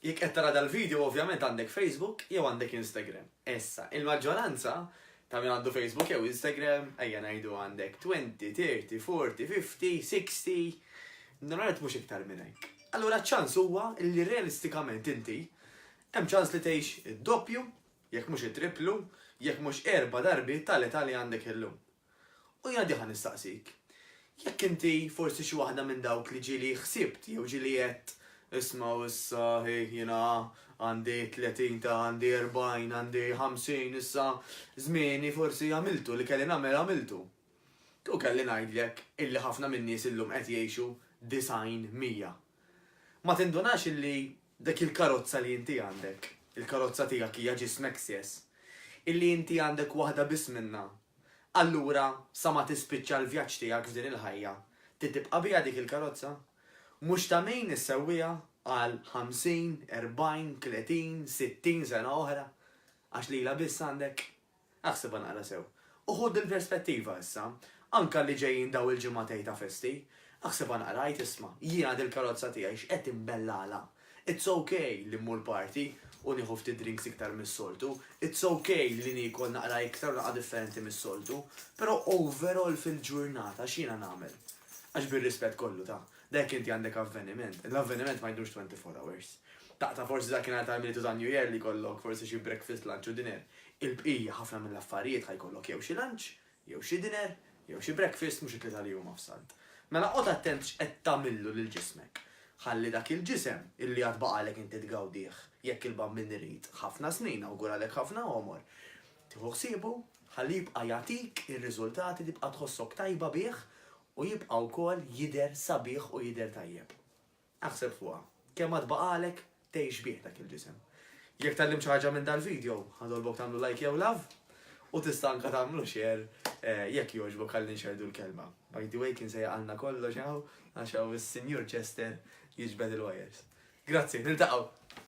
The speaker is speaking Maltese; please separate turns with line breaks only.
Jekk qed tara dal-video ovvjament għandek Facebook jew għandek Instagram. Issa, il-maġġoranza ta' min għandu Facebook jew Instagram, ejja ngħidu għandek 20, 30, 40, 50, 60, normalment mhux iktar minn hekk. Allura ċ-ċans huwa li realistikament inti hemm ċans li tgħix id-doppju, jekk mhux it-triplu, jekk mhux erba' darbi tal-età li għandek illum. U jiena diħa nistaqsik, jekk inti forsi xi waħda minn dawk li ġieli ħsibt jew ġieli għedt, ismgħu issa hi jiena għandi tletin ta' għandi erbgħin għandi ħamsin issa żmieni forsi għamiltu li kelli nagħmel għamiltu. Kieku kelli ngħidlek illi ħafna min-nies illum qed jgħixu disgħin mija Ma tindunax illi dik il-karozza li inti għandek, il-karozza tiegħek hija ġismek stess, illi inti għandek waħda biss minnha, allura sa ma tispiċċa l-vjaġġ tiegħek f'din il-ħajja, ti tibqa' biha dik il-karozza? Mhux ta' min issewwiha għal ħamsin, erbgħin, tletin, sittin sena oħra, għax lilha biss għandek? Aħsibha naqra sew. U ħu din perspettiva issa, anke li ġejjin dawn il-ġimgħa tiegħi ta' festi. Aħsibha naqra, għid isma', jiena dil-karozza tiegħi x'qed imbellalha. It's ok li mmur party u nieħu ftit drinks iktar mis-soltu, it's ok li niekol naqra iktar u naqra differenti mis-soltu, però overall fil-ġurnata x'jiena nagħmel? Għax bir-rispett kollu ta', da jekk inti għandek avveniment, l-avveniment ma jdumx 24 hours. Ta' ta' forsi dakinhar tal-Milied u tan-New Year li jkollok forsi xi breakfast, lunch u dinner. Il-bqija, ħafna mill-affarijiet ħa jkollok jew xi lunch, jew xi dinner, jew xi breakfast, mhux it-tlieta li huma f'Salt. Mela qgħod attent x'qed tagħmillu lil ġismek. Ħalli dak il-ġisem, illi għad baqgħalek inti tgawdih, jekk il-Bambin irid, ħafna snin, awguralek ħafna għomor, tieħu ħsiebu, ħalli jibqa' jagħtik ir-riżultati, tibqa' tħossok tajba bih u jibqa' wkoll jidher sabiħ u jidher tajjeb. Aħseb fuqha. Kemm għad baqagħlek tgħix bih dak il-ġisem? Jekk tgħallimt xi ħaġa minn dal-vidjo, ħanitolbok tagħmlu like jew love, u tista' anke tagħmlu share jekk jogħġbok ħalli nxerrdu l-kelma. By the way, kien se jaqalna kollox hawn għax hawn is-Sinjur Chester jiġbed il-wires. Grazzi, niltaqgħu!